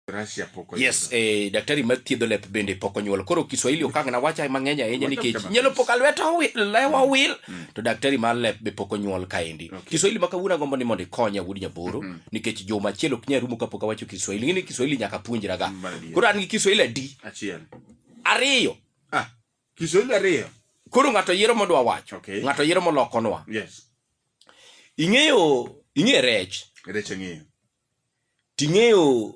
Russia pok oyudo. Yes, eh, daktari ma thiedho lep bende pok onyuol. Koro Kiswahili okang' na wacha mang'eny ahinya Wacha nikech kama. nyalo pok alweta owi- lewa owil to daktari mar lep be pok onyuol kaendi. Okay. Kiswahili ma kawuono agombo ni mondo ikonya wuod Nyaboro nikech juma achiel ok nyal rumo kapok awacho Kiswahili. Ng'eni Kiswahili nyaka puonjra ga. Mbalariany. Koro an gi Kiswahili adi? Achiel. Ariyo. Ah, Kiswahili ariyo. Koro ng'ato yiero modwa wacho. Okay. Ng'ato yiero molokonwa. Yes. Ing'eyo ing'e rech. Rech ang'eyo. Ting'eyo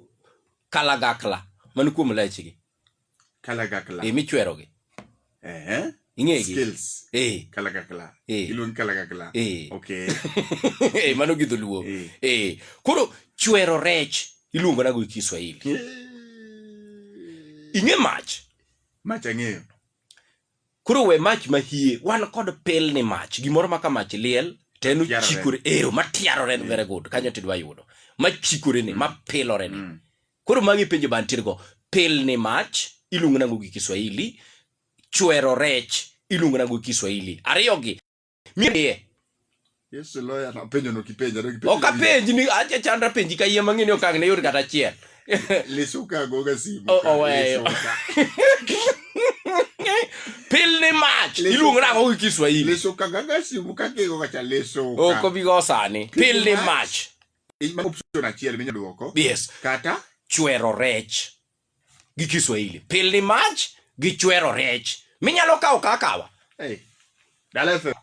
kalagakla man kuom lechgi. Kalagakla. Eh, michwerogi. Eh. Ing'egi. Skills. Eh. Kalagakla. Eh. Iluongi kalagakla. Eh. Okay. eh, mano gi dholuo. Eh. eh. Koro chwero rech iluongo nago gi Kiswahili. Eh. Ing'e mach. Mach ang'eyo. Koro we mach mahie, wan kod pilni mach, gimoro ma ka mach liel to en Yarore. ochikore, ero matiarore ni very good, kanyo to idwa yudo. Machikore ni, mapilore ni. Mm. Koro magi penjo ma antiere go. Pilni mach iluongo nango gi Kiswahili, chwero rech iluongo nango gi Kiswahili. Ariyogi mie Yesu loya na penjo no kipenja no kipenja. Oka penji ni acha chandra penji ka yie mang'eni okang ne yot kata achiel. Lisu ka goga simu. Oh, oh, weyo. Pil ni mach Lisu- iluongo nang'o gi Kiswahili. Lisu ka gaga simu ka kigo kacha lisu. Ok obi go sani. Pil ni mach. Inyalo option achiel minyalo duoko. Yes. Kata Chwero rech. gi Kiswahili. Pilni mach gi chwero rech. Minyalo kawo ka akawa. Hey. Dala FM.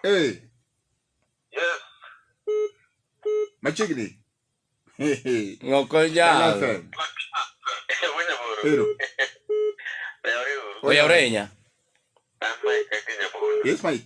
Hey. Yes. Machiegni. Hey, hey. Ok Dala onyal. FM. Ero. Oyawre ahinya. Yes, Mike.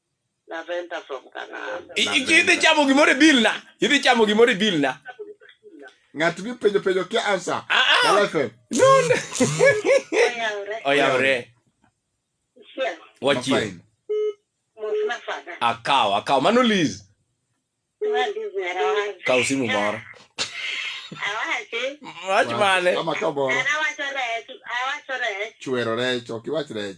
Napenda from Canada. I- i- Idhi chamo gimoro e bill na. Idhi chamo gimoro e bill na. Ng'ato gi penjo penjo kia answer. Ah, ah. Kala FM. No, no. Oyawre. Oyawre. Chiel. Wachie. Mafine. Mos nafada. Akaw, akaw. Mano Liz. Mandi zera wacho. Kaw simu moro. Awache. Wach mane. Kama ka moro. An awacho rech. Awacho rech. Chwero rech, ok iwach rech.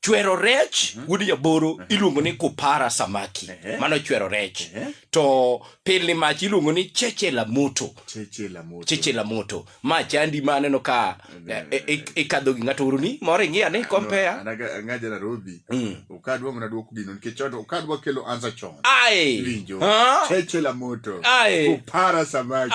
chwero rech mhm. wuod jaboro mhm. iluongo ni kupara samaki mano chwero rech to pilni mach iluongo ni cheche la moto cheche la moto ma chandi ma aneno ka eh, eh, eh, ikadho gi ng'ato uru ni moro ing'iya ni kompea ng'aja narobi mm. okadwa mana dwoko gino nikech odo okadwa kelo ansa chon ai winjo cheche la moto ai kupara samaki